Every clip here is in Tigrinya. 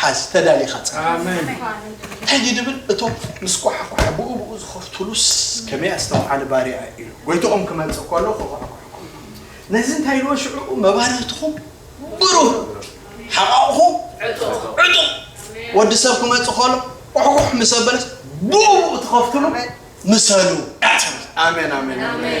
ሓዝ ተዳሊኻ ጽናሕ። ሕጂ ድብል እቶም ምስ ኳሓኳሐ ብኡ ብኡ ዝኸፍ ቱሉስ ከመይ ኣስተውዓሊ ባርያ ኢሉ ጎይትኦም ክመጽእ ከሎ ክኹሕኩሕ ከሎ ነዚ እንታይ ኢልዎ ሽዕኡ መባርህትኹም ብሩህ ሓቓቑኹም ዕጡቕ ወዲ ሰብ ክመጽእ ከሎ ቁሕቁሕ ምስ ኣበለስ ብኡ ብኡ ትኸፍትሉ ምሰሉ ኣሜን ኣሜን ኣሜን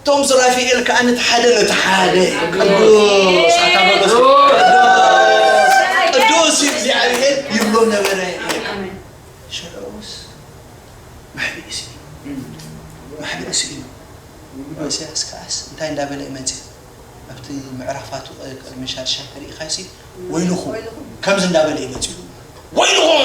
እቶም ሱራፊኤል ከኣ ነቲ ሓደ ነቲ ሓደ ቅዱስ ኣታ በሎስ ቅዱስ ቅዱስ እግዚኣብሔር ይብሎ ነበረ ይብል ሽዑስ መሕብኢ ስኢኑ መሕብኢ ስኢኑ ኢሳያስ ከኣስ እንታይ እንዳበለ ይመጽእ ኣብቲ ምዕራፋቱ ቅድሚ ሻድሻይ ተሪኢኻሲ ወይልኹም ከምዚ እንዳበለ ይመጽኡ ወይልኹም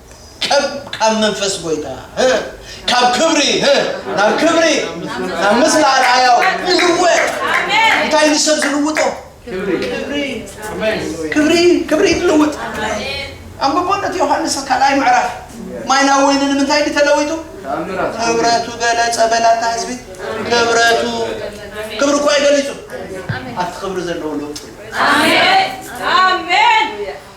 ቀብ ካብ መንፈስ ጎይታ ህ ካብ ክብሪ ህ ናብ ክብሪ ናብ ምስሊ ኣርኣያው ንልወጥ እንታይ ንሰብ ዝልውጦ ክብሪ ክብሪ ክብሪ ይልውጥ ኣንብቦነት ዮሃንስ ካልኣይ ምዕራፍ ማይና ወይኒ ንምንታይ ድዩ ተለዊጡ ክብረቱ ገለጸ በላታ ህዝቢ ክብረቱ ክብሪ እኮ ኣይገሊጹ ኣብቲ ክብሪ ዘለዎ ለውጢ እዩ። ኣሜን ኣሜን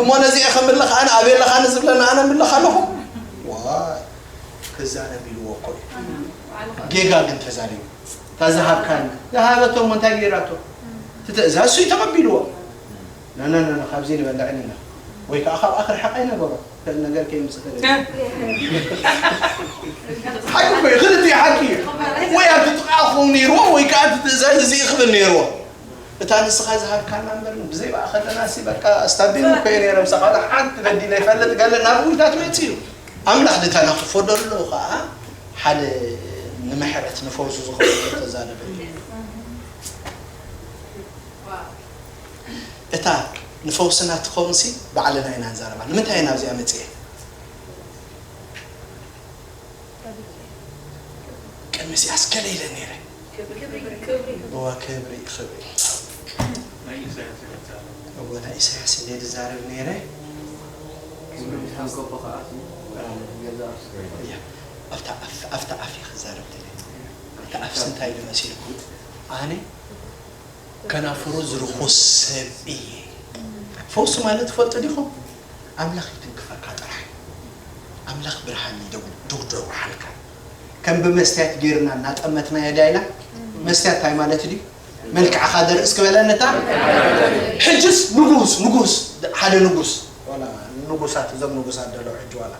እሞ ነዚኤ ከምልኽ ኣነ ኣቤለኻኒ ዝብለኒ ኣነ ምልኽ ኣለኹ ዋይ ክዛረብ ኢልዎ እኮ እዩ ጌጋ ግን ተዛሪቡ እታ ዝሃብካኒ ዝሃበቶ እሞ እንታይ ገይራቶ እቲ ትእዛዝ ሱይ ተቐቢልዎ ነነነ ካብዚ ንበልዕን ኢና ወይ ከዓ ካብኣ ክርሕቕ ኣይነበሮ ከም ነገር ከይምፅእ ተገ ሓቂ እኮ እዩ ክልቲኡ ሓቂ እዩ ወይ ኣብቲ ጥቓ ክኸውን ነይርዎ ወይ ከዓ እቲ ትእዛዝ እዚ ክብል ነይርዎ እታ ንስኻ ዝሃብካና እምበር ብዘይ ባኣ ከለናሲ በቃ ኣስታቢም እኮ እየ ነይረ ምሳኻ ዋላ ሓንቲ በዲለ ይፈልጥ ገለ ናብ ውዳት መጺኡ ኣምላኽ ድተናኽፎ ደሎ ከኣ ሓደ ንምሕረት ንፈውሱ ዝኸውን ተዛረበሉ እታ ንፈውስና ትኸውንሲ ባዕልና ኢና ንዛረባ ንምንታይ ኢና ኣብዚኣ መጽኤ ቅድሚ እዚኣስ ገለ ኢለ ነይረ ክብሪ ክብሪ እወ ክብሪ ክብሪ። ናይ ኢሳያስ እየ ዝዛረብ። እወ ናይ ኢሳያስ እንድየ ዝዛረብ ነይረ። ክብሪ ንሻንቆቆ ከኣ ሲ ገዛ እያ ኣብታ ኣፍ ኣብታ ኣፍ እየ ክዛረብ ደልየ እታ ኣፍሲ እንታይ ኢሉ መሲልኩም ኣነ ከናፍሩ ዝርኹስ ሰብ እየ ፈውሲ ማለት ትፈልጡ ዲኹም ኣምላኽ ይትንክፈካ ጥራሕ ኣምላኽ ብርሃን ይደው ደውደውዓልካ ከም ብመስትያት ጌርና እናጠመትናዮ ዳይና መስትያት ታይ ማለት ድዩ መልክዕኻ ዘርኢ እስኪ በለንታ ሕጅስ ንጉስ ንጉስ ሓደ ንጉስ ዋላ ንጉሳት እዞም ንጉሳት ደለው ሕጂ ዋላ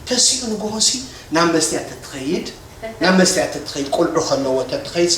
ተሲኡ ንጉሆሲ ናብ መስትያት ተትኸይድ ናብ መስትያት ተትኸይድ ቆልዑ ከለዎ ተትኸይድሲ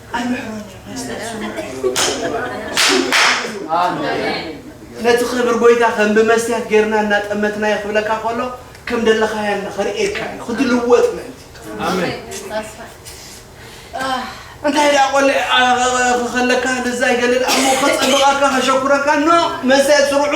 ኣይምሕሮን እዩ መስቀል ስሙ ነቲ ክብር ጎይታ ከም ብመስትያት ጌርና እናጠመትናዮ ክብለካ ከሎ ከም ደለኻያ እና ከርእየካ እዩ ክትልወጥ ምእንቲ እንታይ ደኣ ቆልዕ ከለካ ንዛ ይገለል ኣሞ ከጸብቐካ ከሸኩረካ ኖ መስተያት ስርዑ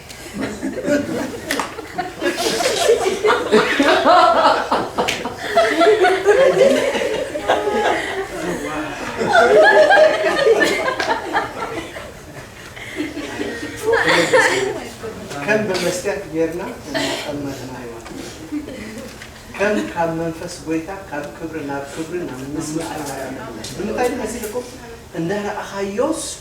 ከም ብመስትያት ጌርና እናጠመትና ህይወት ከም ካብ መንፈስ ጎይታ ካብ ክብሪ ናብ ክብሪ ናብ ምስምዓል ብምንታይ መሲልኩም እንዳረኣኻዮስ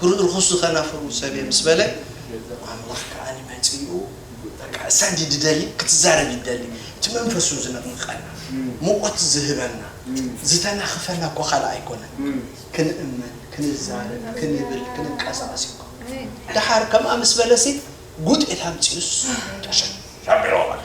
ክርኢ ርኹስ ዝኸናፍሩ ሰብየ ምስ በለ ኣምላኽ ከኣ መጺኡ በቃ እሳ እንዲ ድደሊ ክትዛረብ ይደሊ እቲ መንፈሱ ዝንቕንቐና ሙቐት ዝህበና ዝተናኽፈና እኮ ካልእ ኣይኮነን ክንእመን ክንዛረብ ክንብል ክንንቀሳቐስ እዩ እኮ ደሓር ከምኣ ምስ በለሲ ጉጤት ኣምጺኡስ ተሸ ሸቢርዎ በቃ።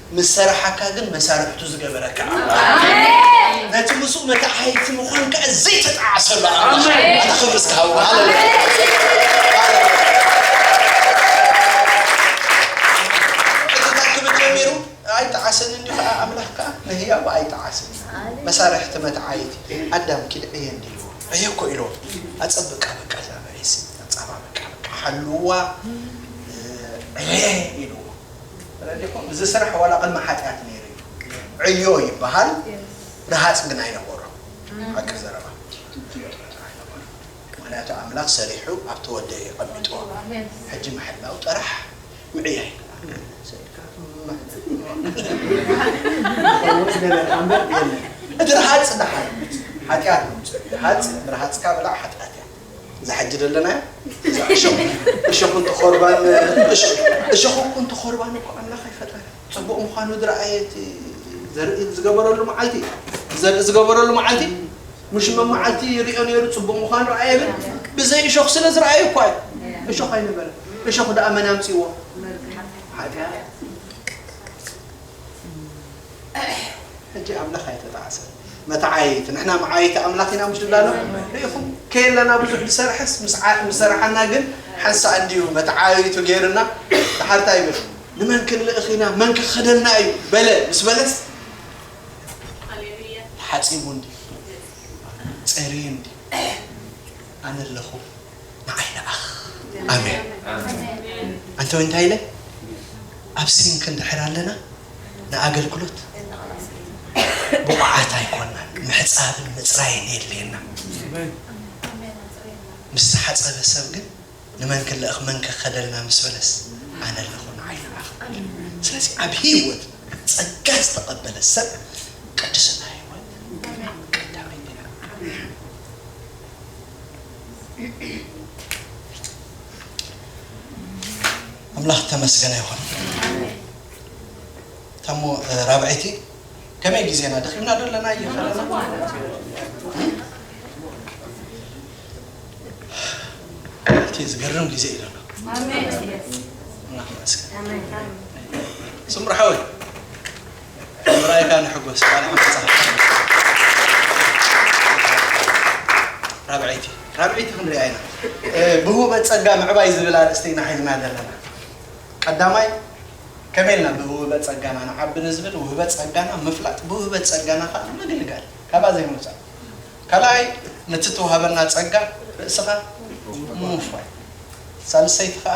ምስ ሰራሓካ ግን መሳርሕቱ ዝገበረካ ኣምላኽ ነቲ ምስኡ መተዓይይቲ ምዃንካ ዘይተጣዓሰሉ ኣምላኽ ኣታ ክብሪ እስከ ሃብዎ ሃለሉያ ኣይጠዓሰን እንዲዩ ከዓ ኣምላኽ ከዓ ንህያቡ ኣይጠዓሰን መሳርሕቲ መትዓይቲ ኣዳም ኪድ ዕየ እንዲልዎ ዕየ እኮ ኢልዎ ኣፀብቃ በቃ እዛ መሬት ኣፃባበቃ በቃ ሓልዋ ዕየ ኢልዎ ረዲኹም እዚ ስራሕ ዋላ ቅድሚ ሓጥያት ነይሩ እዩ ዕዮ ይበሃል ረሃፅ ግን ኣይነበሮን ሓቂ ዘረባ ጥራሕ ኣይነበሮን ምኽንያቱ ኣምላኽ ሰሪሑ ኣብቲ ወዲ እዩ ኣቀሚጥዎ ሕጂ ምሕላው ጥራሕ ምዕያይ እቲ ረሃፅ ደሓን ሓጥያት ምምፅኡ እዩ ረሃፅ ብረሃፅካ ብላዕ ሓጥያት እያ እዛ ሕጂ ዘለናያ እዛ እሾኽ እሾኽ እንተ ኾርባን እሾኽ እኮ እንተ ኾርባን እኮ ኣምላኽ ኣይፈጠረን ጽቡቕ ምዃኑ ዝረኣየ እቲ ዘርኢ ዝገበረሉ መዓልቲ እዩ ዘርኢ ዝገበረሉ መዓልቲ ምሽ መመዓልቲ ይሪኦ ነይሩ ጽቡቕ ምዃኑ ረኣየ ግን ብዘይ እሾኽ ስለ ዝረኣየ እኳ እዩ እሾኽ ኣይነበረን እሾኽ ደኣ መን ኣምጺዎ ሓጢኣት ሕጂ ኣምላኽ ኣይተጣዕሰን። መተዓየይቲ ንሕና መዓየይቲ ኣምላኽ ኢና ምሽ ንብላሎ ርኢኹም ከየለና ብዙሕ ዝሰርሐስ ምስ ምስ ሰራሓና ግን ሓንሳእ እንድዩ መተዓየይቱ ገይርና ድሓር እንታይ ይብል ንመን ክንልእኽ ኢና መን ክኸደና እዩ በለ ምስ በለስ ተሓጺቡ እንድዩ ጸርዩ እንድዩ ኣነ ኣለኹ ንዓይ ንኣኽ ኣሜን ኣንተ ወይ እንታይ ኢለ ኣብ ሲንክ እንድሕር ኣለና ንኣገልግሎት ብቑዓት ኣይኮናን ምሕፃብን ምፅራይን የድልየና ምስ ተሓፀበ ሰብ ግን ንመን ክልእኽ መን ከኸደልና ምስ በለስ ኣነ ኣለኹ ንዓይ ንኣኽ ስለዚ ኣብ ህይወት ጸጋ ዝተቐበለ ሰብ ቅድስና ህይወት ቀዳመይቲ ኣምላኽ ተመስገነ ይኹን ታሞ ራብዐይቲ ከመይ ግዜና ደኺምና ዶ ኣለና እየኸለና እቲ ዝገርም ግዜ እዩ ዘሎ ኣምላኽ ይመስገን ስምርሓወይ ብምርኣይካ ንሕጎስ ቃል ሓቂ ጸሓፍካ ራብዐይቲ ራብዐይቲ ክንሪኣ ኢና ብህቡበት ጸጋ ምዕባይ ዝብል ኣርእስቲ ኢና ሒዝና ዘለና ቀዳማይ ከመይ ኢልና ብውህበት ጸጋና ንዓቢ ንዝብል ውህበት ጸጋና ምፍላጥ ብውህበት ጸጋና ከዓ ምግልጋል ካብኣ ዘይምውፃእ ካልኣይ ነቲ ተዋህበና ጸጋ ርእስኻ ምውፋይ ሳልሰይቲ ከዓ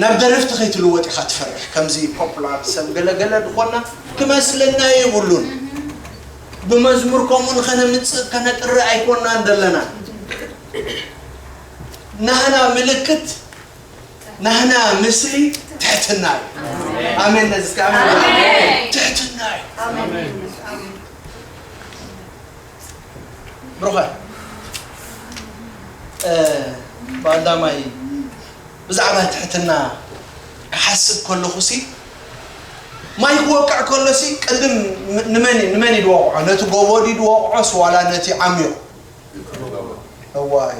ናብ ደረፍቲ ከይትልወጥ ኢካ ትፈርሕ ከምዚ ፖፕላር ሰብ ገለ ገለ ድኮና ክመስለና የብሉን ብመዝሙር ከምኡ ንከነምጽእ ከነጥሪ ኣይኮናን ደለና ናህና ምልክት ናህና ምስሊ ትሕትና እዩ ኣሜን ነዚ ትሕትና እዩ ብሩኸ ባልዳማይ ብዛዕባ ትሕትና ክሓስብ ከለኹሲ ማይ ክወቅዕ ከሎሲ ቅድም ንመን ንመን እዩ ድወቕዖ ነቲ ጎቦ ድዩ ድወቕዖስ ዋላ ነቲ ዓሚቕ እዋይ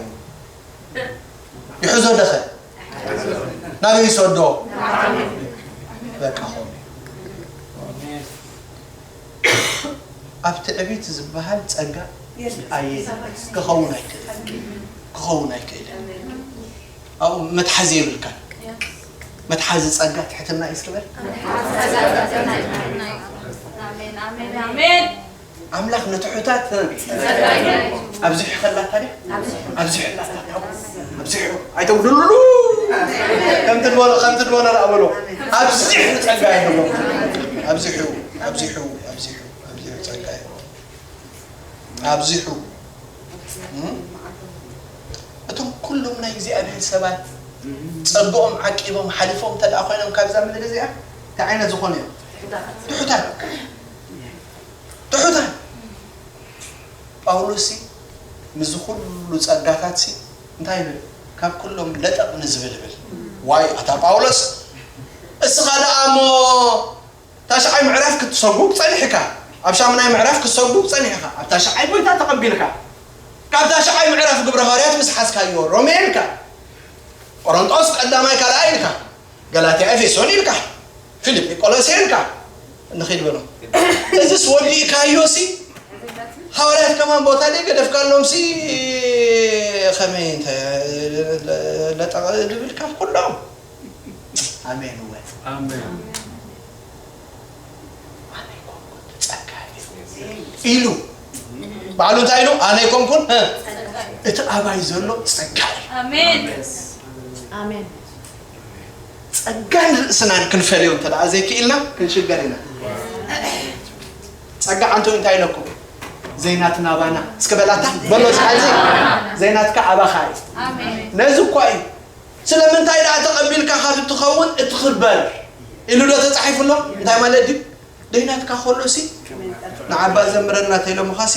ይሕዞ ደኸ ናበይ ይሰዶ በቃ ኾ ኣብ ትዕቢት ዝበሃል ጸጋ ኣየ ክኸውን ኣይክእልን ክኸውን ኣይክእልን ኣብኡ መትሓዚ የብልካን መትሓዚ ጸጋ ትሕትና እዩ እስኪ በል ኣምላኽ ንትሑታት ኣብዚሑ ከላታ ድያ ኣብዚሑ ላታ ኣብዚሑ ኣይተጉድሉሉ ከምቲ ድበሎ ከምቲ ድበሎ ደኣ በሎ ኣብዚሑ ጸጋ ይህቦ ኣብዚሑ ኣብዚሑ ኣብዚሑ ኣብዚሑ ጸጋ ይህቦ ኣብዚሑ እም? እቶም ኩሎም ናይ እግዚኣብሔር ሰባት ጸግኦም ዓቂቦም ሓሊፎም እንተ ደኣ ኮይኖም ካብዛ ምድሪ እዚኣ እንታይ ዓይነት ዝኾኑ እዮም ትሑታት ትሑታት ጳውሎስሲ ምስዚ ዅሉ ጸጋታትሲ እንታይ ይብል? ካብ ኵሎም ለጠቕ ንዝብል ይብል። ዋይ ኣታ ጳውሎስ! እስኻ ደኣ እሞ ታሽዓይ ምዕራፍ ክትሰጕግ ጸኒሕካ፣ ኣብ ሻሙናይ ምዕራፍ ክትሰጕግ ጸኒሕኻ፣ ኣብ ታሽዓይ ጐይታ ተቐቢልካ፣ ካብ ታሽዓይ ምዕራፍ ግብረ ሃዋርያት ምስ ሓዝካዮ ሮሜ ኢልካ፣ ቈረንጦስ ቀዳማይ ካልኣይ ኢልካ፣ ገላትያ ኤፌሶን ኢልካ፣ ፊልጵ ቆሎሴን ከኣ ንኺድ በሎ እዝስ ወዲእካዮሲ ሃዋርያት ከማን ቦታ ደይ ገደፍካሎምሲ ከመይ እንተ ለጠቕ ድብል ካብ ኩሎም ኣሜን እወ ኣሜን ኣነ ኮንኩን ጸጋ እዩ ኢሉ ባዕሉ እንታይ ኢሉ ኣነ ኮንኩን እ፣ እቲ ኣባይ ዘሎ ጸጋ እዩ ኣሜን ኣሜን ጸጋን ርእስናን ክንፈልዮ እንተ ደኣ ዘይክኢልና ክንሽገር ኢና። ጸጋ ኣንቶ እንታይ ኢለኩም? ዘይናትና ኣባና እስከ በላታ በሎ ስሓዚ ዘይናትካ ኣባኻ እዩ። ነዚ እኳ እዩ ስለምንታይ ደኣ ተቐቢልካ ካብ እትኸውን እትኽበር ኢሉ ዶ ተጻሒፉ ኣሎ? እንታይ ማለት ድዩ? ደይናትካ ከሎ ሲ ንዓባ ዘምረና ተኢሎምኻ ሲ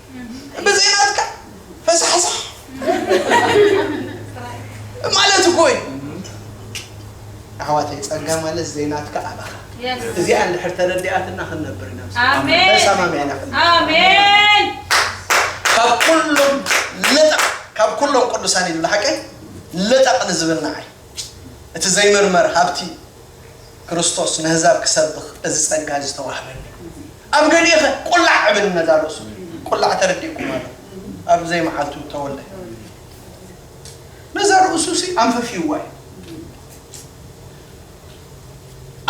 እንደዚህ ናትካ ፈሳሕሳ ማለት እኮ እዩ ኣሕዋተይ ጸጋ ማለት ዘይናትካ ኣባኻ እዚኣ እንድሕር ተረዲኣትና ክንነብር ኢና ምስ ኣሜን። ተሰማሚዕና ክንነብር። ኣሜን ካብ ኩሎም ልጠቕ ካብ ኩሎም ቅዱሳን ኢሉ ሓቀይ ልጠቕ ንዝብል ንዓይ እቲ ዘይምርመር ሃብቲ ክርስቶስ ነህዛብ ክሰብኽ እዚ ጸጋ እዚ ተዋህበኒ። ኣብ ገሊእኸ ቁላዕ እብል ንነዛ ርእሱ ቁላዕ ተረዲእኩማ ዶ ኣብ ዘይመዓልቱ ተወልደ። ነዛ ርእሱሲ ኣንፈፍዩዋ እዩ።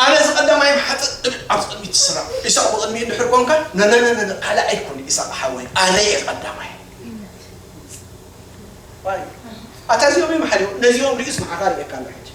ኣነ እዚ ቀዳማይ ምሓጥእ እብል ኣብዚ ቅድሚት ትስራዕ። ኢሳቕ ብቕድሚኡ እንድሕር ኮንካ ነነነነነ ካልእ ኣይኮን ኢሳቕ ሓወይ ኣነ እየ ቀዳማይ። ኣታ እዚኦም እዮም ሓሊፎም ነዚኦም ርእዩስ ንዓኻ ርእየካ ኣሎ ሕጂ።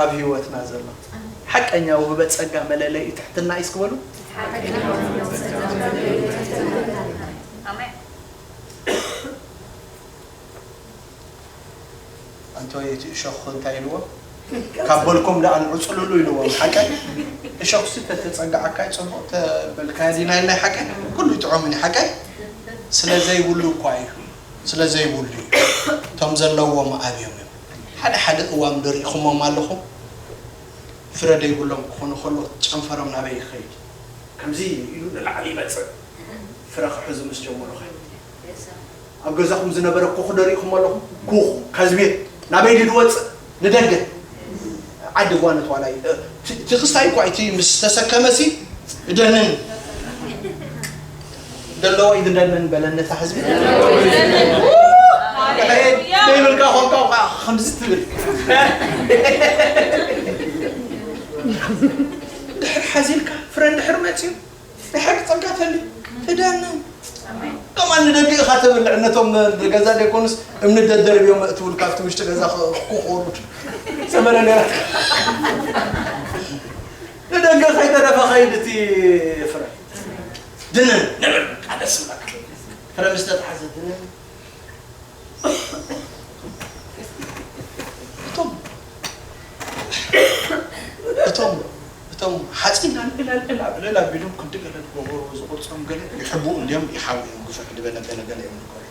ኣብ ህይወትና ዘሎ ሓቀኛ ውህበት ጸጋ መለለዪ ትሕትና እዩ። እስኪ በሉ ኣንቶ እቲ እሾኽ እንታይ ኢልዎ ካብ በልኩም ደኣ ንዕፅልሉ ኢልዎም ሓቀን እሾኽሲ ተተፀጋዓካይ ፅቡቕ ተበልካያ ዲና ኢልናይ ሓቀን ኩሉ ይጥዖምኒ ሓቀን ስለዘይብሉ እኳ እዩ ስለዘይብሉ እዩ እቶም ዘለዎም ኣብዮም እዮም ሓደ ሓደ እዋን'ዶ ርኢኹሞም ኣለኹም? ፍረ ደይብሎም ክኾኑ ከለው ጨንፈሮም ናበይ ይኸይድ? ከምዚ ኢሉ ንላዕሊ ይመጽእ። ፍረ ክሕዙ ምስ ጀመሩኸ? ኣብ ገዛኹም ዝነበረ ኩኹ'ዶ ርኢኹሞ ኣለኹም? ኩኹ፣ ከዝቤት፣ ናበይ ድዩ ዝወጽእ? ንደገ። ዓዲ ጓኖት ዋላ እዩ። እቲ ክስታይ'ኳ እቲ ምስ ተሰከመሲ እደንን። ደለዎ ይግደድነን በለን ነታ ህዝቢ ዘይብልካ ኮንካ ከዓ ከምዚ ትብል ድሕር ሓዚልካ ፍረ ድሕር መፅዩ ድሕር ፀጋ ተልዩ ትደንን ከምኣ ንደቂ ኢኻ ተብልዕ ነቶም ገዛ ደይኮኑስ እምኒ ደደርብዮም መእትውል ካብቲ ውሽጢ ገዛ ክኾሩ ሰመረ ነራት ንደገ ከይተረፈ ኸይድ እቲ ፍረ ድንን ንብል በቃ ደስ ይብለካ ፍረ ምስ ተታሕዘ ድንን እቶም እቶም እቶም ሓፂን ኣልዕላልዕል ኣብዕልል ኣቢሎም ክንዲ ገለ ዝገበሩ ዝቕርፆም ገለ ይሕብኡ እንድዮም ይሓውዮም ግፍሕ ድበለ ገለ ገለ እዮም ዝገበሩ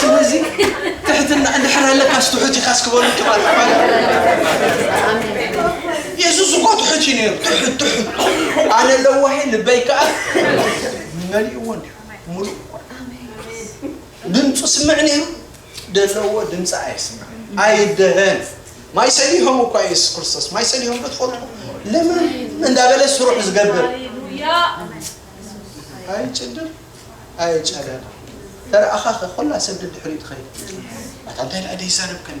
ስለዚ ትሕትና እንድሕር ኣለካስ ትሑት ኢኻስ ክበሉ ጀማል ተባለ የሱስ እኮ ትሑት እዩ ነይሩ ትሑት ትሑት ኣነ ለዋሄ ልበይ ከዓ መሊእዎ እንዲሁ ሙሉእ ድምፁ ስምዕ ነይሩ ደለዎ ድምጺ ኣይስማዕን ኣይደረን ማይ ሰሊሆም እኳ ኢየሱስ ክርስቶስ ማይ ሰሊሆም ዶ ትፈልጡ ለምን እንዳበለ ስሩሕ ዝገብር ኣይጭድር ኣይጨደር ተረኣኻኸ ኮላ ሰብ ድድሕሪኡ ትኸይድ ኣታ እንታይ ደኣ ደይዛረብ ከሎ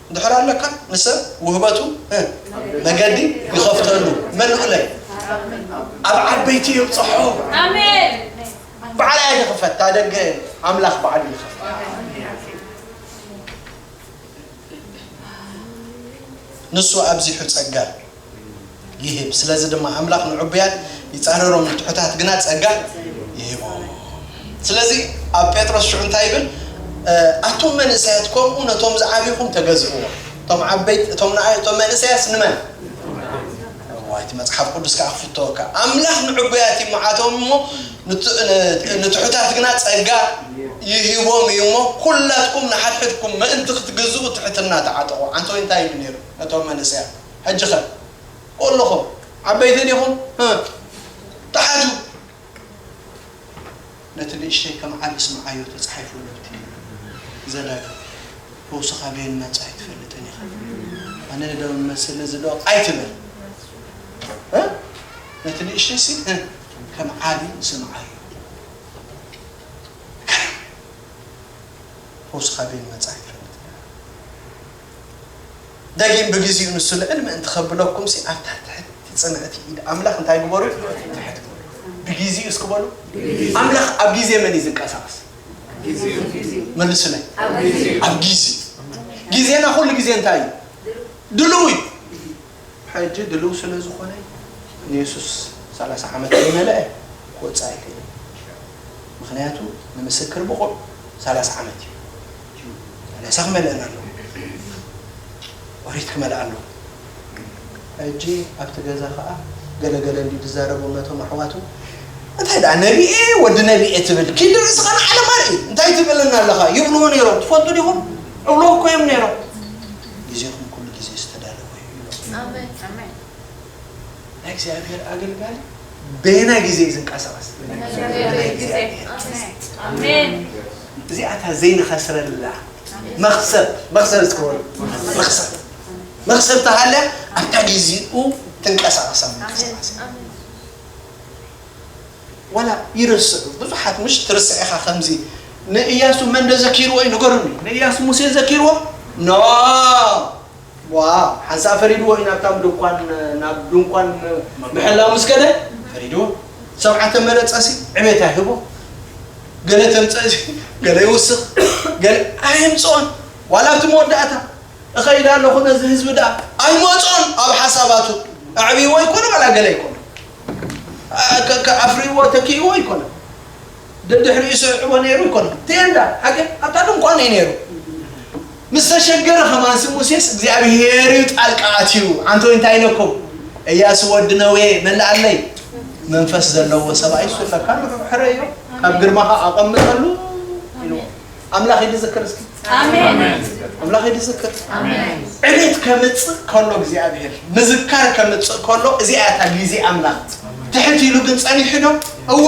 እንድሕር ኣለካ ንሰብ ውህበቱ እ መገዲ ይኸፍተሉ መንቕለይ ኣብ ዓበይቲ የብጽሖ ባዕላይ ኣይክፈት ታደገ ኣምላኽ ባዕሉ ይኸፍት ንሱ ኣብዚሑ ጸጋ ይህብ። ስለዚ ድማ ኣምላኽ ንዕቡያት ይጻረሮም፣ ንትሑታት ግና ጸጋ ይህቦም። ስለዚ ኣብ ጴጥሮስ ሽዑ እንታይ ይብል? ኣቱም መንእሰያት ከምኡ ነቶም ዝዓብኹም ተገዝእዎም። እቶም ዓበይቲ እቶም ንኣይ እቶም መንእሰያስ ንመን? እዋይ እቲ መጽሓፍ ቅዱስ ከዓ ክፍተወካ ኣምላኽ ንዕቡያት ይመዓቶም እሞ ንት- ን- ንትሑታት ግና ጸጋ ይህቦም እዩ እሞ ኩላትኩም ንሓድሕድኩም ምእንቲ ክትግዝኡ ትሕትና ተዓጠቑ። ዓንተ ወይ እንታይ ይብል ነይሩ ነቶም መንእሰያት? ሕጂኸ ኮሎኹም ዓበይቲ ዲኹም ህ ተሓቱ ነቲ ንእሽተይ ከም ዓቢ ስምዓዮ ተጻሒፉ ነብቲ ዘላዩ ፈውሲ ካበየን ናጻ ኣይትፈልጥን ኢኻ ኣነ ዶ መስሊ እዚ ዶ ኣይትበል እ ነቲ ንእሽተይ ሲ እ ከም ዓቢ ስምዓዮ ፈውሲ ካበየን ናጻ ኣይትፈልጥን ደጊም ብግዚኡ ንሱ ልዕል ምእንቲ ከብለኩምሲ ኣብታ ትሕቲ ጽንዕቲ ኢድ ኣምላኽ እንታይ ግበሩ ትሕት በሉ። ብግዚኡ እስኪ በሉ ኣምላኽ ኣብ ግዜ መን እዩ ዝንቀሳቀስ? መልሱለይ ኣብ ግዜ ግዜና ኩሉ ግዜ እንታይ እዩ ድልው እዩ። ሕጂ ድልው ስለ ዝኾነ ንየሱስ ሰላሳ ዓመት ከይመለአ ክወጽእ ኣይክእልን ምክንያቱ ንምስክር ብቑዕ ሰላሳ ዓመት እዩ። እዩ ሰላሳ ክመልእን ኣለዎ ኦሪት ክመልእ ኣለዎ ሕጂ ኣብቲ ገዛ ከኣ ገለ ገለ እንዲ ዝዛረቦም ነቶም ኣሕዋቱ እንታይ ደኣ ነቢኤ ወዲ ነቢኤ ትብል ኪዲ ርእስኻ ንዓለም ኣርኢ እንታይ ትብለና ኣለኻ ይብልዎ ነይሮም ትፈልጡ ዲኹም እብሎ እኮ እዮም ነይሮም ግዜኹም ኩሉ ግዜ ዝተዳለወ እዩ ናይ እግዚኣብሔር ኣገልጋሊ በየናይ ግዜ እዩ ዝንቀሳቐስ? እዚኣ እታ ዘይንኸስረላ መኽሰብ መኽሰብ ዝከበሉ መኽሰብ መኽሰብ ተሃልያ ኣብታ ግዜኡ ትንቀሳቐሳ ምንቀሳቐስ ዋላ ይርስዑ ብዙሓት ምሽ ትርስዕ ኢኻ ከምዚ ንእያሱ መን ዶ ዘኪርዎ እዩ ንገሩኒ ንእያሱ ሙሴ ዘኪርዎ ኖ ዋው ሓንሳእ ፈሪድዎ እዩ ናብታም ድንኳን ናብ ድንኳን ምሕላው ምስ ከደ ፈሪድዎ ሰብዓተ መረጸ ሲ ዕቤት ኣይህቦ ገለ ተምጸእ ሲ ገለ ይውስኽ ገለ ኣይምጽኦን ዋላ ኣብቲ መወዳእታ እኸይድ ኣለኹ ነዚ ህዝቢ ደኣ ኣይመጾን ኣብ ሓሳባቱ ኣዕብይዎ ይኮነ ዋላ ገለ ይኮነ ኣፍርይዎ ተኪእዎ ይኮነ ደድሕሪኡ ሰሪዑዎ ነይሩ ኣይኮነን። ቴንዳ፣ ሃገር፣ ኣብታ ድንኳን እዩ ነይሩ። ምስ ተሸገረ ከማንሲ ሙሴስ እግዚኣብሄር እዩ ጣልቃ ኣትዩ። ኣንተ ወይ እንታይ ኢለኩም? እያሱ ወዲ ነዌ መላኣለይ መንፈስ ዘለዎ ሰብኣይ እሱ ኣለካ ንዑ ሕረዮ ካብ ግርማኻ ኣቐምጠሉ ኢልዎ። ኣምላኽ ይድዝክር እስኪ ኣምላኽ ይድዝክር ዕቤት ከምፅእ ከሎ እግዚኣብሄር ምዝካር ከምፅእ ከሎ እዚኣ እያ እታ ግዜ ኣምላኽ ትሕት ኢሉ ግን ፀኒሑ ዶ እወ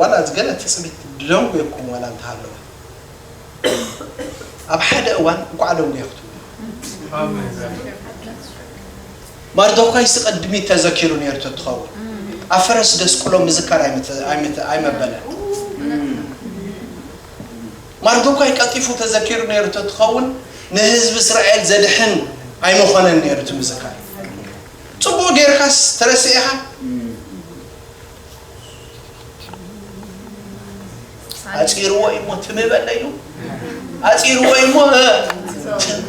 ዋላ እዚ ገለ ትጽቢት ደንጉየኩም ዋላ እንተሃለወ ኣብ ሓደ እዋን እንቋዕ ደንጉየ ክትብሉ ማርዶካይስ ቐድሚት ተዘኪሩ ነይሩ ተትኸውን ኣብ ፈረስ ደስቁሎ ምዝካር ኣይመበለን ማርዶካይ ቀልጢፉ ተዘኪሩ ነይሩ ተትኸውን ንህዝቢ እስራኤል ዘድሕን ኣይመኾነን ነይሩ እቲ ምዝካር ጽቡቅ ጌርካስ ተረሲዕኻ ኣጺርዎ እዩ እሞ ትም በለ ኢሉ ኣጺርዎ እዩ እሞ እ፣ ትም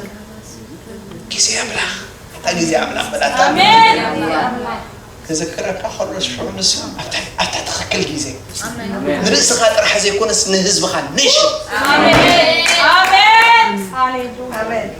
ግዜ ኣምላኽ ኣታ ግዜ ኣምላኽ በላታ ክዝክረካ ከሎ ሽዑ ንሱ ኣብታ- ኣብታ ትኽክል ግዜ ንርእስኻ ጥራሕ ዘይኮነስ ንህዝብኻ ኔሽን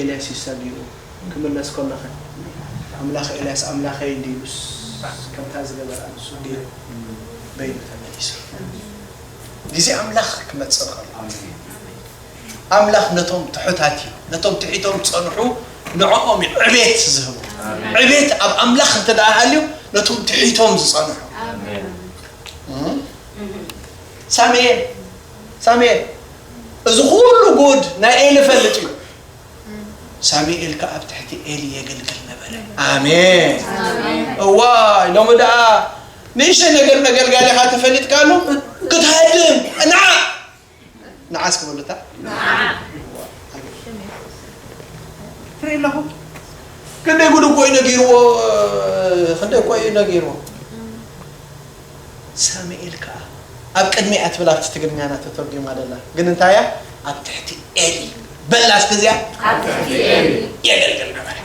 ኤልያስ እዩ ሰጊሩ ክምለስ ከሎኸ ኣምላኽ ኤልያስ ኣምላኸይ እንድዩ ኢሉስ ከምታ ዝገበራ ንሱ ገይሩ በይኑ ተመሊሱ ግዜ ኣምላኽ ክመጽእ ከሎ ኣምላኽ ነቶም ትሑታት እዩ ነቶም ትሒቶም ጸንሑ ንዕኦም እዩ ዕቤት ዝህቡ ዕቤት ኣብ ኣምላኽ እንተ ደኣ ሃልዩ ነቶም ትሒቶም ዝጸንሑ ሳሙኤል ሳሚኤል እዚ ኹሉ ጉድ ናይ ኤሊ ፈልጥ እዩ ሳሚኤል ከ ኣብ ትሕቲ ኤሊ የገልግል ነበረ ኣሜን እዋይ ሎሚ ደኣ ንእሽተይ ነገር መገልጋሊኻ ተፈሊጥካሉ ክትሃድም ንዓ ንዓስ ክበሉታ ትርኢ ኣለኹ ክንደይ ጉድ እኮ እዩ ነጊርዎ ክንደይ እኮ እዩ ነጊርዎ ሳሚኤል ከኣ ኣብ ቅድሚ እያ ትብል ኣብቲ ትግርኛና ተተርጉማ ደላ ግን እንታይ እያ ኣብ ትሕቲ ኤሊ በላ እስኪ እዚኣ ኣብ ትሕቲ ኤሊ የገልግል ነበረ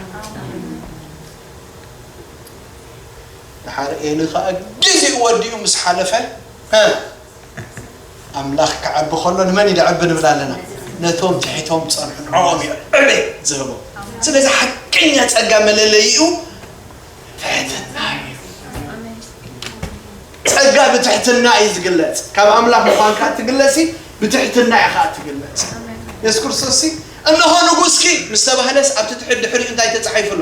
ድሓር ኤሊ ከኣ ግዜኡ ወዲኡ ምስ ሓለፈ ኣምላኽ ክዓቢ ከሎ ንመን እዩ ድዕቢ ንብል ኣለና ነቶም ትሒቶም ዝጸንሑ ንዕኦም እዩ ዕቤት ዝህቦም ስለዚ ሓቀኛ ጸጋ መለለይኡ ትሕትና እዩ። ጸጋ ብትሕትና እዩ ዝግለጽ። ካብ ኣምላኽ ምዃንካ እትግለጽ ብትሕትና እያ ከዓ እትግለጽ። የሱስ ክርስቶስ ሲ እነሆ ንጉስኪ ምስ ተባህለስ ኣብቲ ትሑት ድሕሪኡ እንታይ ተጻሒፉ ኣሎ?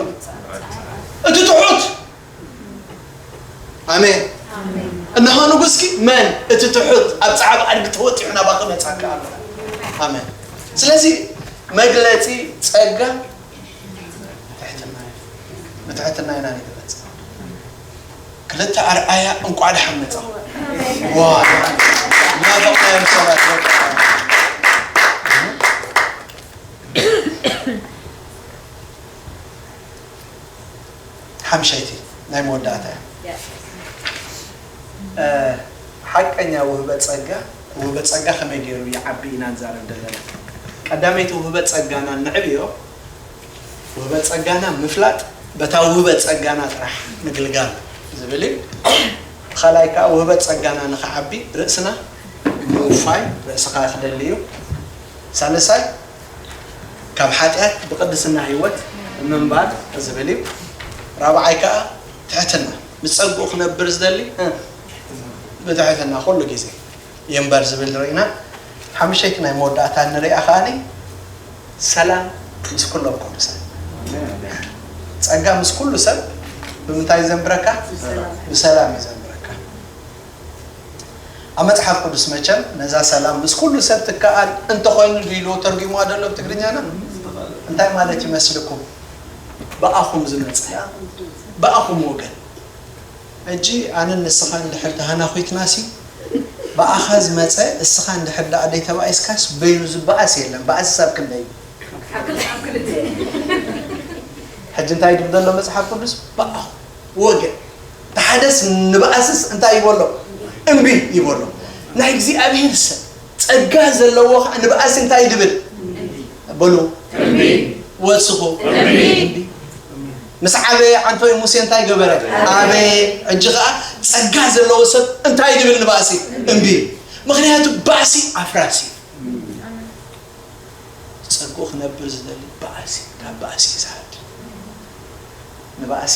እቲ ትሑት ኣሜን። እነሆ ንጉስኪ መን እቲ ትሑት ኣብ ጸዓብ ኣድጊ ተወጢሑ ናባኺ መጻካ ኣሎ። ኣሜን። ስለዚ መግለጺ ጸጋ ብትሕትና እዩ ብትሕትና ኢና ንግለጽ ክልተ ኣርኣያ እንቋዕ ደሓን መጻኹም ዋ ናፈቕናዮም ሰባት ሓምሸይቲ ናይ መወዳእታ እያ ሓቀኛ ውህበት ጸጋ ውህበት ጸጋ ከመይ ገይሩ ይዓቢ ኢና ንዛረብ ዘለና። ቀዳመይቲ ውህበት ጸጋና ነዕብዮ ውህበት ጸጋና ምፍላጥ በታ ውህበት ጸጋና ጥራሕ ምግልጋል ዝብል እዩ። እቲ ካልኣይ ከኣ ውህበት ጸጋና ንኽዓቢ ርእስና ምውፋይ ርእስኻ ክደሊ እዩ። ሳልሳይ ካብ ሓጢኣት ብቅድስና ህይወት ምንባር ዝብል እዩ። ራብዓይ ከኣ ትሕትና። ምስ ጸግኡ ክነብር ዝደሊ ብትሕትና ኩሉ ግዜ ይንበር ዝብል ርኢና ሓምሸይቲ ናይ መወዳእታ ንርኣ ከኣ ሰላም ምስ ኩሎም ቅዱሳን ጸጋ ምስ ኩሉ ሰብ ብምንታይ ዘንብረካ ብሰላም እዩ ዘንብረካ ኣብ መጽሓፍ ቅዱስ መቸም ነዛ ሰላም ምስ ኩሉ ሰብ ትከኣል እንተኾይኑ ድኢልዎ ተርጒምዋ ደሎ ብትግርኛና እንታይ ማለት ይመስልኩም ብኣኹም ዝመጽእ ብኣኹም ወገን ሕጂ ኣነን ንስኻን እንድሕር ተሃናዂትናሲ ብኣኻ ዝመጸ እስኻ እንድሕር ደኣ ደይተባኢስካስ በይኑ ዝበኣስ የለን በኣስ ክሳብ ክንደይ እዩ ሕጂ እንታይ ድብል ዘሎ መጽሓፍ ቅዱስ ብኣኹም ወገን ተሓደስ ንበኣስስ እንታይ ይበሎ እምቢ ይበሎ ናይ እግዚኣብሔር ሰብ ጸጋ ዘለዎ ከኣ ንባእሲ እንታይ ድብል በሉ እምቢ ወስኹ እምቢ ምስ ዓበየ ዓንፈይ ሙሴ እንታይ ገበረ ኣበየ ሕጂ ከኣ ጸጋ ዘለዎ ሰብ እንታይ ድብል ንባእሲ እምቢ ምክንያቱ ባእሲ ኣፍራሲ ጸግኡ ክነብር ዝደሊ ባእሲ ካብ ባእሲ ይስሓድ ንባእሲ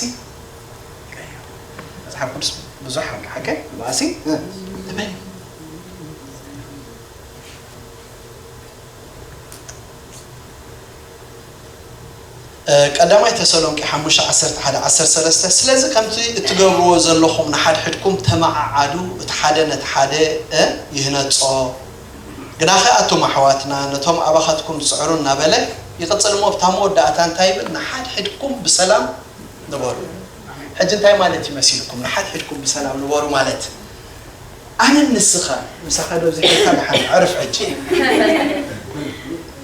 ቀይሮ መጽሓፍ ቅዱስ ብዙሕ ሓቂ ንባእሲ እመን ቀዳማይ ተሰሎንቄ ሓሙሽተ ዓሰርተ ሓደ ዓሰርተ ሰለስተ ስለዚ ከምቲ እትገብርዎ ዘሎኹም ንሓድሕድኩም ተመዓዓዱ እቲ ሓደ ነቲ ሓደ ይህነጾ ግናኸ ኣቱም ኣሕዋትና ነቶም ኣባኻትኩም ዝጽዕሩ እናበለ ይቕጽል እሞ ኣብታ መወዳእታ እንታይ ይብል ንሓድሕድኩም ብሰላም ንበሩ ሕጂ እንታይ ማለት እዩ መሲልኩም ንሓድሕድኩም ብሰላም ንበሩ ማለት ኣነን ንስኻን ምሳኻ ዶ ዝሒልካ ድሓን ዕርፍ ሕጂ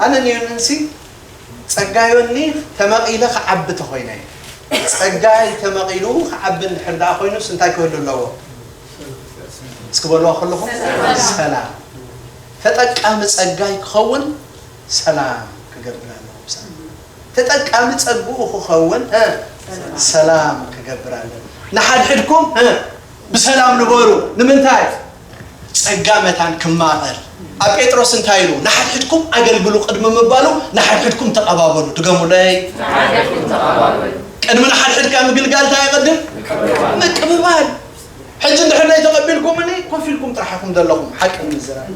ኣነን ዮኒንሲ ጸጋ ዮኒ ተመቒለ ክዓቢ ተኾይነ ጸጋይ ተመቒሉ ክዓቢ እንድሕር ደኣ ኮይኑስ እንታይ ክህሉ ኣለዎ እስኪ በልዋ ከለኹም ሰላም ተጠቃሚ ጸጋይ ክኸውን ሰላም ክገብር ኣለዎ ተጠቃሚ ጸግኡ ክኸውን ሰላም ክገብር ኣለዎ ንሓድሕድኩም ብሰላም ንበሩ ንምንታይ ጸጋ መታን ክማቐል ኣብ ጴጥሮስ እንታይ ኢሉ ንሓድሕድኩም ኣገልግሉ ቅድሚ ምባሉ ንሓድሕድኩም ተቐባበሉ ድገሙለይ ንሓድሕድኩም ተቐባበሉ ቅድሚ ንሓድሕድካ ምግልጋል እንታይ ይቐድም ምቅብባል ምቅብባል ሕጂ እንድሕር ዘይተቐቢልኩምኒ ኮፍ ኢልኩም ጥራሕ ኢኹም ዘለኹም ሓቂ ንምዝራብ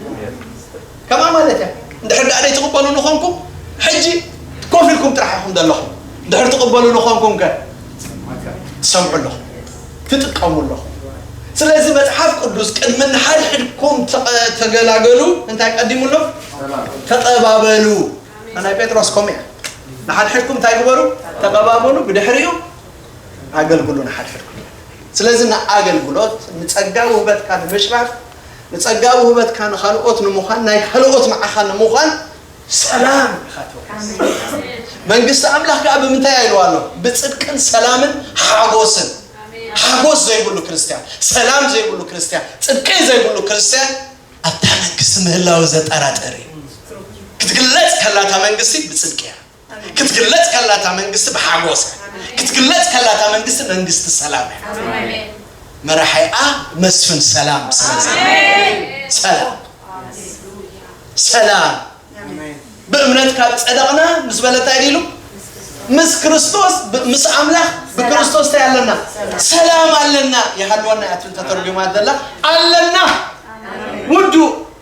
ከምኣ ማለት እያ እንድሕር ደኣ ዘይትቕበሉኒ ኾንኩም ሕጂ ኮፍ ኢልኩም ጥራሕ ኢኹም ዘለኹም እንድሕር ትቕበሉኒ ኾንኩም ከ ትሰምዑ ኣለኹም ትጥቀሙ ኣለኹም ስለዚ መጽሓፍ ቅዱስ ቅድሚ ንሓድሕድኩም ተገላገሉ እንታይ ቀዲሙ ኣሎ ተቐባበሉ ናይ ጴጥሮስ ከምኡ እያ ንሓድሕድኩም እንታይ ግበሩ ተቐባበሉ ብድሕሪኡ ኣገልግሉ ንሓድሕድኩም ስለዚ ንኣገልግሎት ንጸጋ ውህበትካ ንምሽራፍ ንጸጋ ውህበትካ ንኻልኦት ንምዃን ናይ ካልኦት ንዓኻ ንምዃን ሰላም ኢኻ ተወሪስ። መንግስቲ ኣምላኽ ከኣ ብምንታይ እያ ኢልዋ ኣሎ? ብጽድቅን ሰላምን ሓጎስን። ሓጎስ ዘይብሉ ክርስትያን፣ ሰላም ዘይብሉ ክርስትያን፣ ጽድቂ ዘይብሉ ክርስትያን ኣብታ መንግስቲ ምህላው ዘጠራጥር እዩ። ክትግለጽ ከላ እታ መንግስቲ ብጽድቂ እያ። ክትግለጽ ከላ እታ መንግስቲ ብሓጎስ እያ። ክትግለጽ ከላ እታ መንግስቲ መንግስቲ ሰላም እያ። መራሒኣ መስፍን ሰላም ስለ ዝነበረ ሰላም ሰላም ብእምነት ካብ ጸደቕና ምስ በለ እንታይ ኢሉ ምስ ክርስቶስ ብ- ምስ ኣምላኽ ብክርስቶስ እንታይ ኣለና ሰላም ኣለና ይሃልወና እያ እትን ተተርጒማ ዘላ ኣለና ውዱእ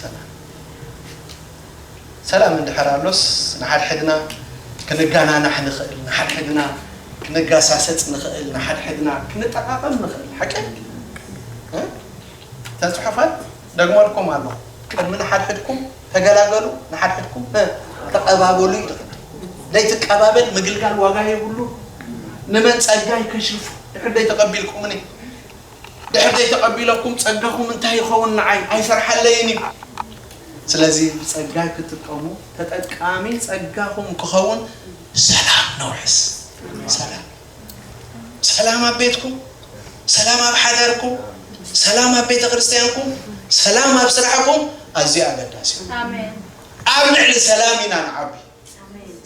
ሰላም ሰላም እንድሕር ኣሎስ ንሓድሕድና ክንጋናናሕ ንኽእል፣ ንሓድሕድና ክንጋሳሰጽ ንኽእል፣ ንሓድሕድና ክንጠቓቐም ንኽእል። ሓቂ እተን ጽሑፋት ደግመልኩም ኣለኹ፣ ቅድሚ ንሓድሕድኩም ተገላገሉ፣ ንሓድሕድኩም ተቐባበሉ ይብል። ዘይትቀባበል ምግልጋል ዋጋ የብሉ። ንመን ጸጋይ ከሽርፉ ድሕር ደይ ተቐቢልኩምኒ ድሕር ዘይተቀቢለኩም ጸጋኹም እንታይ ይኸውን ንዓይ ኣይሰርሓለይን እዩ ስለዚ ብጸጋይ ክጥቀሙ ተጠቃሚ ጸጋኹም ክኸውን ሰላም ነውሕስ ሰላም ሰላም ኣብ ቤትኩም ሰላም ኣብ ሓዳርኩም ሰላም ኣብ ቤተ ክርስቲያንኩም ሰላም ኣብ ስራሕኩም ኣዝዩ ኣገዳሲ እዩ ኣብ ልዕሊ ሰላም ኢና ንዓቢ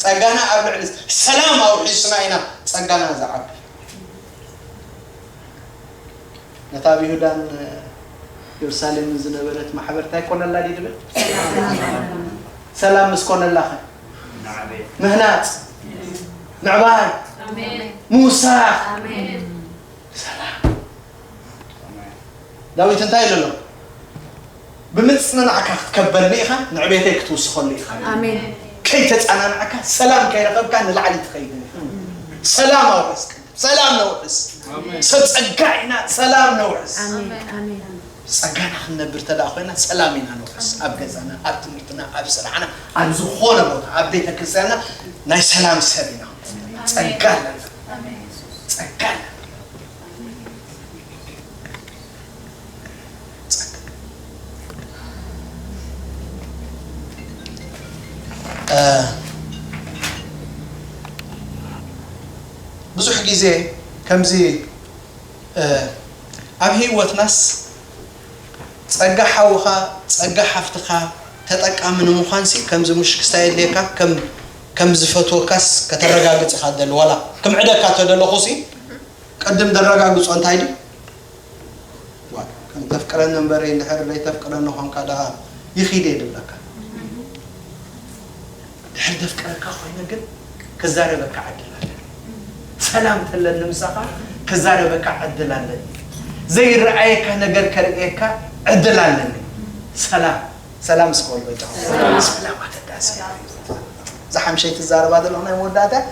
ጸጋና ኣብ ልዕሊ ሰላም ኣውሒስና ኢና ጸጋና ዝዓቢ። ነታ ኣብ ይሁዳን የሩሳሌምን ዝነበረት ማሕበር እንታይ ኮነላ ድዩ ድብል ሰላም ምስ ኮነላ ኸ ምህናጽ ምዕባይ ምውሳኽ ሰላም ዳዊት እንታይ ኢሉ ኣሎ? ብምጽንናዕካ ክትከበኒ ኢኻ፣ ንዕቤተይ ክትውስኸሉ ኢኻ። ከይተጸናናዕካ፣ ሰላም ከይረኸብካ ንላዕሊ ትኸይድን ኢኻ። ሰላም ኣውሕስ ቅድም፣ ሰላም ነውሕስ። ሰብ ጸጋ ኢና፣ ሰላም ነውሕስ። ጸጋና ክንነብር ተደኣ ኮይና ሰላም ኢና ነውሕስ። ኣብ ገዛና፣ ኣብ ትምህርትና፣ ኣብ ስራሕና፣ ኣብ ዝኾነ ቦታ፣ ኣብ ቤተ ክርስቲያንና ናይ ሰላም ሰብ ኢና። ጸጋ ኣለና፣ ጸጋ ኣለና። ብዙሕ ግዜ ከምዚ ኣብ ህይወትናስ ጸጋ ሓውኻ ጸጋ ሓፍትኻ ተጠቃሚ ንምዃንሲ ከምዚ ሙሽክስታ የድልየካ ከም ከም ዝፈትወካስ ከተረጋግጽ ኢካ ትደሊ ዋላ ክምዕደካ ተደለኩ ሲ ቅድም ደረጋግጾ እንታይ ድዩ ዋይ ከም ተፍቅረኒ እንበሪ እንድሕር ደይ ተፍቅረኒ ኮንካ ደኣ ይኪድ እየ ድብለካ ድሕር ደፍቅረካ ኮይነ ግን ክዛረበካ ዕድል ኣለኒ ሰላም ተለኒ ምሳካ ክዛረበካ ዕድል ኣለኒ ዘይረኣየካ ነገር ከርእየካ ዕድል ኣለኒ ሰላም ሰላም እስከ በሉ በጃኹም ሰላም ኣገዳሲ እዩ እዛ ሓምሸይቲ ትዛረባ ዘለኹ ናይ መወዳእታ እያ።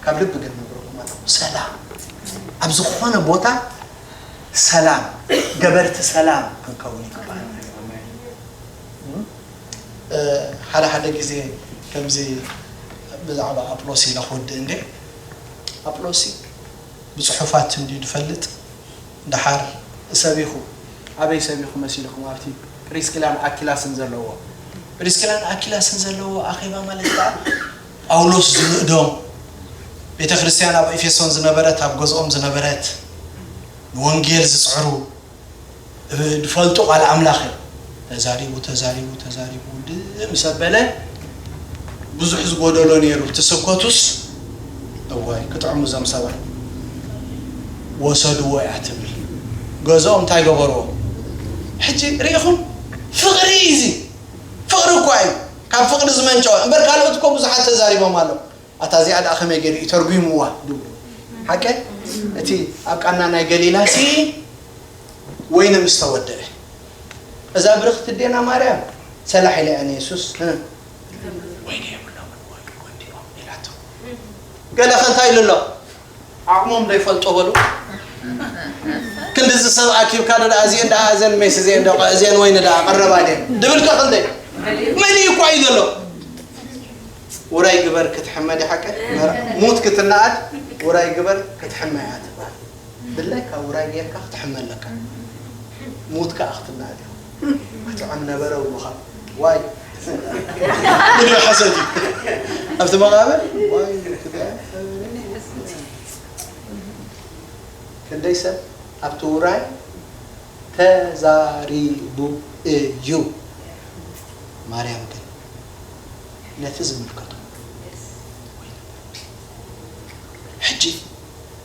ካብ ልቢ ግን ነግረኩም ኣለኹ ሰላም ኣብ ዝኾነ ቦታ ሰላም ገበርቲ ሰላም ክንከውን ይግባል እ፣ ሓደ ሓደ ግዜ ከምዚ ብዛዕባ ኣጵሎሲ ኢለ ክወድእ እንዴ ኣጵሎሲ ብፅሑፋት እንድዩ ዝፈልጥ ደሓር ሰቢኹ ኣበይ ሰቢኹ መሲልኩም ኣብቲ ጵሪስቂላን ኣኪላስን ዘለዎ ጵሪስቂላን ኣኪላስን ዘለዎ ኣኼባ ማለት ከኣ ጳውሎስ ዝንእዶም ቤተ ክርስትያን ኣብ ኤፌሶን ዝነበረት ኣብ ገዝኦም ዝነበረት ንወንጌል ዝጽዕሩ ዝፈልጡ ቃል ኣምላኽ እዮም ተዛሪቡ ተዛሪቡ ተዛሪቡ ውድእ ምስ ኣበለ ብዙሕ ዝጎደሎ ነይሩ እቲ ስብከቱስ እዋይ ክጥዕሙ እዞም ሰባት ወሰድዎ እያ ትብል ገዝኦም እንታይ ገበርዎ ሕጂ ሪኢኹም ፍቅሪ እዩ እዚ ፍቅሪ እኳ እዩ ካብ ፍቅሪ ዝመንጨወ እምበር ካልኦት እኮ ብዙሓት ተዛሪቦም ኣለው ኣታ እዚኣ ደኣ ከመይ ገይሩ እዩ ተርጒምዋ ድብሉ ሓቀ እቲ ኣብ ቃና ናይ ገሊላሲ ወይኒ ምስ ተወደአ እዛ ብርኽቲ እዴና ማርያም ሰላሕ ኢላያ ንየሱስ ወይኒ የብሎምን ወይኑ ጎዲሎም ኢላቶ ገለኸ እንታይ ኢሉ ኣሎ ዓቕሞም ዶ ይፈልጦ በሉ ክንድዚ ሰብ ኣኪብካ ዶ ደኣ እዚኤን ደኣ እዘን ሜስ እዚኤን ዶ እዚኤን ወይኒ ደኣ ቀረባ ድየን ድብል ከ ክንደይ መሊኡ እኳ እዩ ዘሎ ውራይ ግበር ክትሕመ ዲሓቀ ሙት ክትነኣድ ውራይ ግበር ክትሕመ እያ ትበሃል ድላይካ ውራይ ጌርካ ክትሕመ ኣለካ ሙት ካኣ ክትናኣድ ኢካ ክጥዕም ነበረ እብሉካ ዋይ ድሕሪ ሕሰት እዩ ኣብቲ መቃብር ዋይ ክንደይ ሰብ ኣብቲ ውራይ ተዛሪቡ እዩ ማርያም ግን ነቲ ዝምልከቶ ሕጂ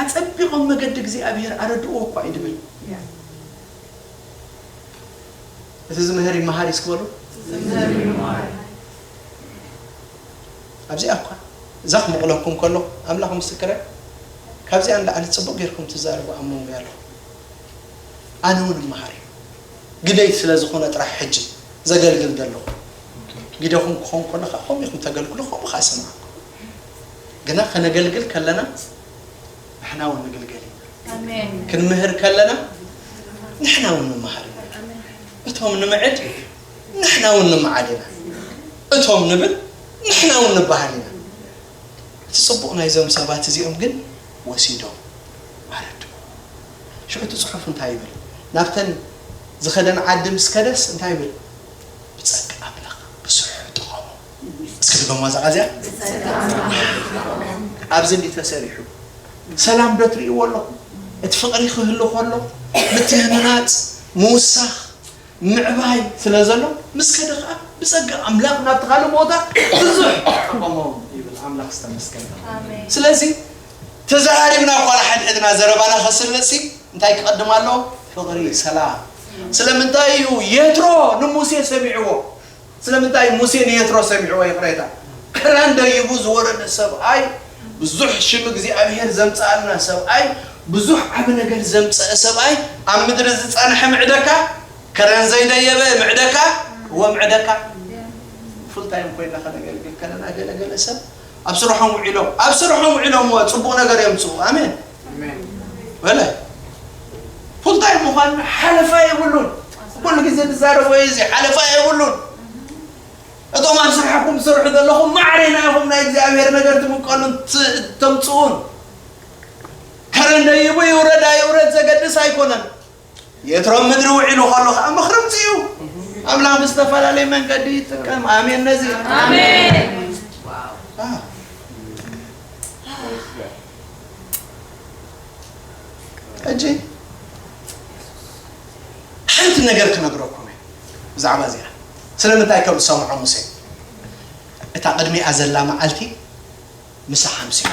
ኣጸቢቖም መገዲ እግዚኣብሄር ኣረድእዎ እኳ እዩ ድብል። እቲ ዝምህር ይመሃር እስኪ በሉ። ኣብዚኣ እኳ እዛ ክምቕለኩም ከለኹ ኣምላኽ ምስክረይ ካብዚኣ ንላዕሊ ጽቡቕ ጌርኩም ትዛረቡ ኣብ መንጎይ ኣለኹም። ኣነ እውን እመሃር እዩ ግደይ ስለ ዝኾነ ጥራሕ ሕጂ ዘገልግል ዘለኹ ግደኹም ክኸውን ከሎ ከዓ ከምኡ ኢኹም ተገልግሉ ከምኡ ከዓ እሰምዓኩም። ግና ከነገልግል ከለና ንሕና እውን ንግልገል ኢና ክንምህር ከለና ንሕና እውን ንመሃር ኢና እቶም ንምዕድ ንሕና እውን ንምዓድ ኢና እቶም ንብል ንሕና እውን ንበሃል ኢና እቲ ፅቡቕ ናይዞም ሰባት እዚኦም ግን ወሲዶም ኣረዱ ሽዑ እቲ ፅሑፍ እንታይ ይብል ናብተን ዝኸደን ዓዲ ምስ ከደስ እንታይ ይብል ብፀጋ ኣምላኽ ብስሑ ጠቐሙ እስኪ ድገማ ዛዓዚያ ኣብዚ እንዲ ተሰሪሑ ሰላም ዶ ትርእይዎ ኣለኹም እቲ ፍቕሪ ክህሉ ከሎ ምትህንናፅ ምውሳኽ ምዕባይ ስለ ዘሎ ምስ ከደ ከዓ ብፀጋ ኣምላኽ ናብቲ ካልእ ቦታ ብዙሕ ጠቐሞ ይብል ኣምላኽ ዝተመስገነ ስለዚ ተዘራሪብና እኳ ንሓድሕድና ዘረባና ከስርፅ ሲ እንታይ ክቐድም ኣለዎ ፍቕሪ ሰላም ስለምንታይ እዩ የትሮ ንሙሴ ሰሚዕዎ ስለምንታይ ሙሴ ንየትሮ ሰሚዕዎ ይቕሬታ ክራን ደይቡ ዝወረደ ሰብኣይ ብዙሕ ሽም እግዚኣብሄር ዘምጽኣልና ሰብኣይ ብዙሕ ዓቢ ነገር ዘምጸኣ ሰብኣይ ኣብ ምድሪ ዝጸንሐ ምዕደካ ከረን ዘይደየበ ምዕደካ እወ ምዕደካ ፉል ታይም ኮይና ከነገልግል ከለና ገለ ገለ ሰብ ኣብ ስርሖም ውዒሎም ኣብ ስርሖም ውዒሎምዎ ጽቡቕ ነገር የምጽኡ ኣሜን በለ ፉልታይም ምዃን ሓለፋ የብሉን ኩሉ ግዜ ትዛረቦ እዩ እዚ ሓለፋ የብሉን እቶም ኣብ ስራሕኩም ትሰርሑ ዘለኹም ማዕሬና ኢኹም ናይ እግዚኣብሔር ነገር ትምቀሉን ተምፅኡን ከረንደ ይቡ ይውረድ ኣይውረድ ዘገድስ ኣይኮነን የትሮም ምድሪ ውዒሉ ከሎ ከዓ ምኽርምቲ እዩ ኣምላኽ ብዝተፈላለየ መንገዲ ይጥቀም ኣሜን ነዚ ሕጂ ሓንቲ ነገር ክነግረኩም እየ ብዛዕባ እዚኣ ስለምንታይ ከም ዝሰምዖ ሙሴ እታ ቅድሚኣ ዘላ መዓልቲ ምሳ ሓምሲዎ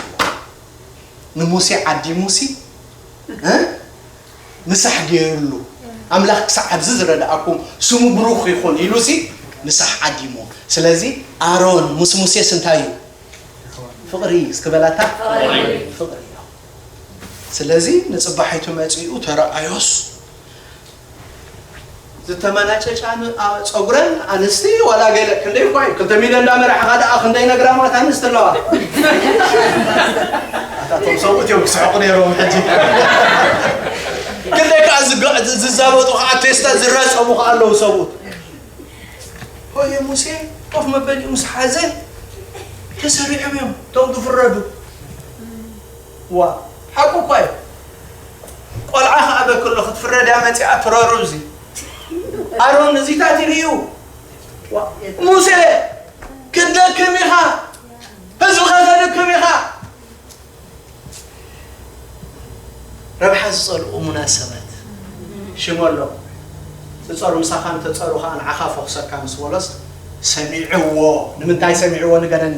ንሙሴ ዓዲሙሲ እ? ምሳሕ ገይርሉ ኣምላኽ ክሳዕ ኣብዚ ዝረድኣኩም ስሙ ብሩኽ ይኹን ኢሉሲ ምሳሕ ዓዲሙ ስለዚ ኣሮን ምስ ሙሴስ እንታይ እዩ ፍቕሪ እዩ እስኪ በላታ ፍቕሪ እዩ ስለዚ ንጽባሒቱ መጺኡ ተረኣዮስ ዝተመናጨጫን ጸጉረን ኣንስቲ ዋላ ገለ ክንደይ እኳ እዩ ክልተ ሚልዮን እንዳመራሕኻ ደኣ ክንደይ ነግራማት ኣንስቲ ኣለዋ ኣታ ቶም ሰብኡት እዮም ክስሕቑ ነይሮም ሕጂ ክንደይ ከዓ ዝዛበጡ ከዓ ቴስታ ዝረፀሙ ከዓ ኣለዉ ሰብኡት ሆየ ሙሴ ኮፍ መበሊኡ ምስ ሓዘ ተሰሪዖም እዮም እቶም ክፍረዱ ዋእ ሓቁ እኳ እዩ ቆልዓ ከኣ በክሎ ክትፍረድ እያ መጺኣ ትረሩ እዚ ኣሮን እዚታት ይርእዩ ዋእ ሙሴ ክትደክም ኢኻ ህዝብኻ ተድክም ኢኻ ረብሓ ዝጸልኡ እሙናት ሰባት ሽም ኣሎ ትጸሩ ምሳኻ እንተጸሩ ኸኣ ንዓኻ ፈኹሰካ ምስ በሎስ ሰሚዕዎ ንምንታይ ሰሚዕዎ ንገረኒ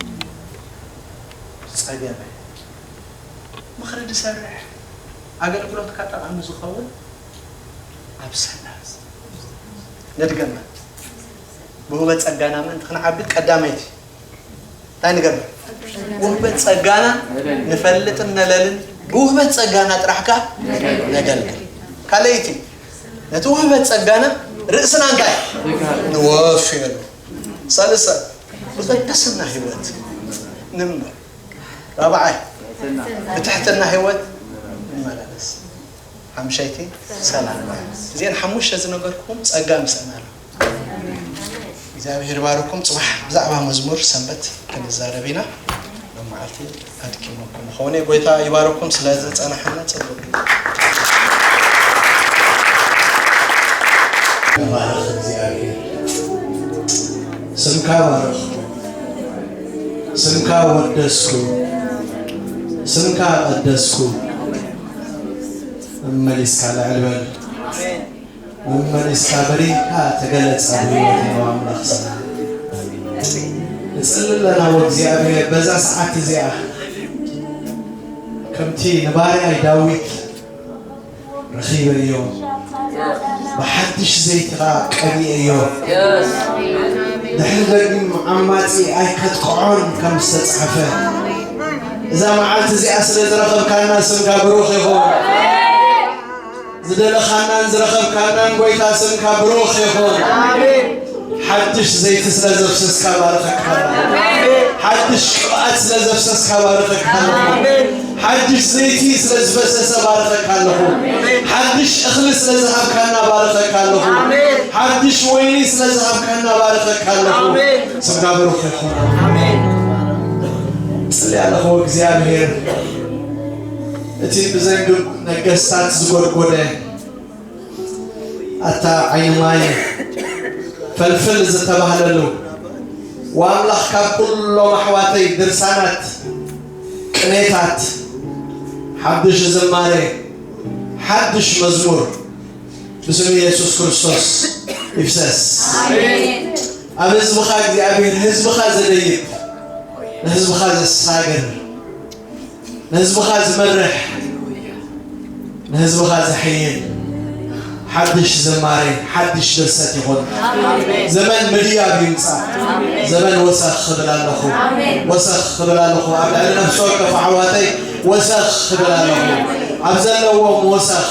እዩ ዝጸገመ። ምኽሪ ዝሰርሕ፣ ኣገልግሎትካ ጠቓሚ ዝኸውን ኣብ ሰላስ። ንድገማ፣ ብውህበት ጸጋና ምእንቲ ክንዓቢ ቀዳመይቲ እንታይ ንገብር? ውህበት ጸጋና ንፈልጥን ነለልን ብውህበት ጸጋና ጥራሕ ከኣ ነገልግል። ካልኣይቲ ነቲ ውህበት ጸጋና ርእስና እንታይ ንወፍየሉ። ሰልሰ ብቅድስና ህይወት ንንበር። ራብዓይ ብትሕትና ህይወት ንመላለስ። ሓምሻይቲ ሰላም። እዚኤን ሓሙሽተ ዝነገርኩም ጸጋ ምሰና ኣሎ። እግዚኣብሔር ባርኩም። ጽባሕ ብዛዕባ መዝሙር ሰንበት ክንዛረብ ኢና። መዓልቲ ኣድኪመኩም ይኮውኔ ጎይታ ይባርኩም ስለ እዚ ዝጸናሓና ጽቡቅ ግጥም። ተባረኽ እግዚኣብሔር ስምካ ባረኽኩ ስምካ ወደስኩ ስምካ ቀደስኩ መሊስካ ልዕል በል መመሊስካ በሪህካ ተገለጽ ኣብ ህይወተይ ኦ ኣምላኽ ሰላም እጽሊ ኣለና ኦ እግዚኣብሔር በዛ ሰዓት እዚኣ ከምቲ ንባርያይ ዳዊት ረኺበዮ ብሓድሽ ዘይቲ ኸኣ ቀቢኤዮ ድሕሪ ደጊም ዓማጺ ኣይከጥቅዖን ከም ዝተጻሕፈ እዛ መዓልቲ እዚኣ ስለ ዝረኸብካና ስምካ ብሩኽ ይኹን ዝደለኻናን ዝረኸብካናን ጎይታ ስምካ ብሩኽ ይኹን። ሓድሽ ዘይቲ ስለ ዘፍሰስካ ባረኸካ ኣለኹ። ሓድሽ ቅብኣት ስለ ዘፍሰስካ ባረኸካ ኣለኹ። ሓድሽ ዘይቲ ስለ ዝፈሰሰ ባረኸካ ኣለኹ። ሓድሽ እኽሊ ስለ ዝሃብካና ባረኸካ ኣለኹ። ሓድሽ ወይኒ ስለ ዝሃብካና ባረኸካ ኣለኹ። ስምካ ብሩኽ ይኹን። ጽልያ ኣለኹ እግዚኣብሔር እቲ ብዘንግብ ነገስታት ዝጎድጎደ ኣታ ዓይኒ ማይ ፈልፍል ዝተባህለሉ ዋምላኽ ካብ ኩሎም ኣሕዋተይ ድርሳናት ቅኔታት ሓዱሽ ዝማሬ ሓዱሽ መዝሙር ብስም ኢየሱስ ክርስቶስ ይፍሰስ ኣብ ህዝብኻ እግዚኣብሔር ህዝብኻ ዘደይብ ንህዝብኻ ዘሳግር ንህዝብኻ ዝመርሕ ንህዝብኻ ዘሐይል ሓድሽ ዝማሬ ሓድሽ ድርሰት ይኹን። ዘመን ምድያብ ይምፃእ። ዘመን ወሰኽ ክብል ኣለኹ፣ ወሰኽ ክብል ኣለኹ። ኣብ ልዕሊ ነፍሲ ወከፍ ኣሕዋተይ ወሰኽ ክብል ኣለኹ። ኣብ ዘለዎም ወሰኽ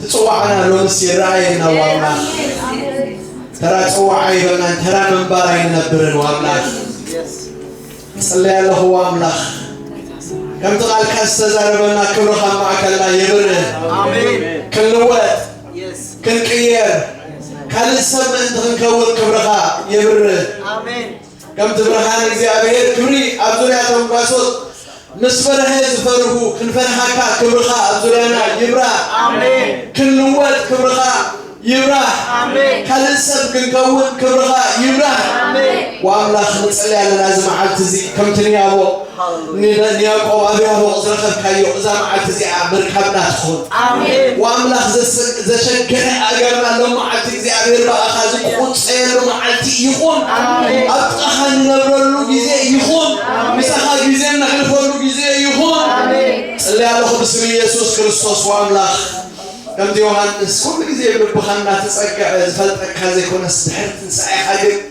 ትጽዋዕና ሎምስ ይረኣየና ዋምላኽ ተራ ጽዋዕ ኣይበልናን ተራ ምንባር ኣይንነብርን ዋምላኽ ጽለይ ኣለኹ ዋምላኽ ከምቲ ቃልካ ዝተዛረበና ክብርኻ ማእከልና የብርህ ክንልወጥ ክንቅየር ካልእ ሰብ ምእንቲ ክንከውን ክብርኻ የብርህ ከምቲ ብርሃን እግዚኣብሔር ክብሪ ኣብ ዙርያቶም ጓሶት ምስ በርሀ ዝፈርሁ ክንፈርሃካ ክብርኻ ኣብ ዙርያና ይብራህ ክንልወጥ ክብርኻ ይብራህ ካልእ ሰብ ክንከውን ክብርኻ ይብራህ ወኣምላኽ ንጽሊ ኣለና እዚ መዓልቲ እዚ ከምቲ ንያቦ ሃለሉያ። ንያዕቆብ ኣብ ያቦቕ ዝረኸብካዮ እዛ መዓልቲ እዚኣ ምርካብና ትኹን። ኣሜን። ወኣምላኽ ዘሰ- ዘሸገረ ኣእጋርና ሎም መዓልቲ እግዚኣብሔር ብኣኻ ዝቁጸየሉ መዓልቲ ይኹን። ኣሜን። ኣብ ጥቓኻ ንነብረሉ ግዜ ይኹን። ኣሜን። ምሳኻ ግዜ እነሕልፈሉ ግዜ ይኹን። ኣሜን። ጽልያ ኣለኹ ብስም ኢየሱስ ክርስቶስ ወኣምላኽ ከምቲ ዮሃንስ ኩሉ ግዜ ብልብኻ እናተጸግዐ ዝፈልጠካ ዘይኮነስ ድሕሪ ትንሣኤኻ ግን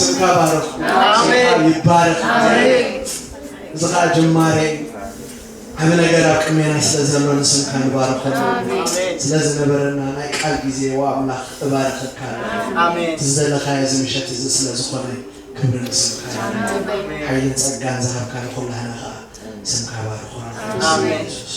ስምካ ባረኽ ስምካ ይባረኽ እዚ ከዓ ጅማሬ ዓብ ነገር ኣብ ቅሜና ስለ ዘሎ ንስምካ ንባረኸ ስለ ዝነበረና ናይ ቃል ግዜ ዋ ኣምላኽ እባረኸካ ዝዘለኻዮ እዚ ምሸት እዚ ስለ ዝኾነ ክብሪ ንስምካ ሓይልን ጸጋን ዝሃብካ ንኹላህና ከዓ ስምካ ባረኾ ሱስ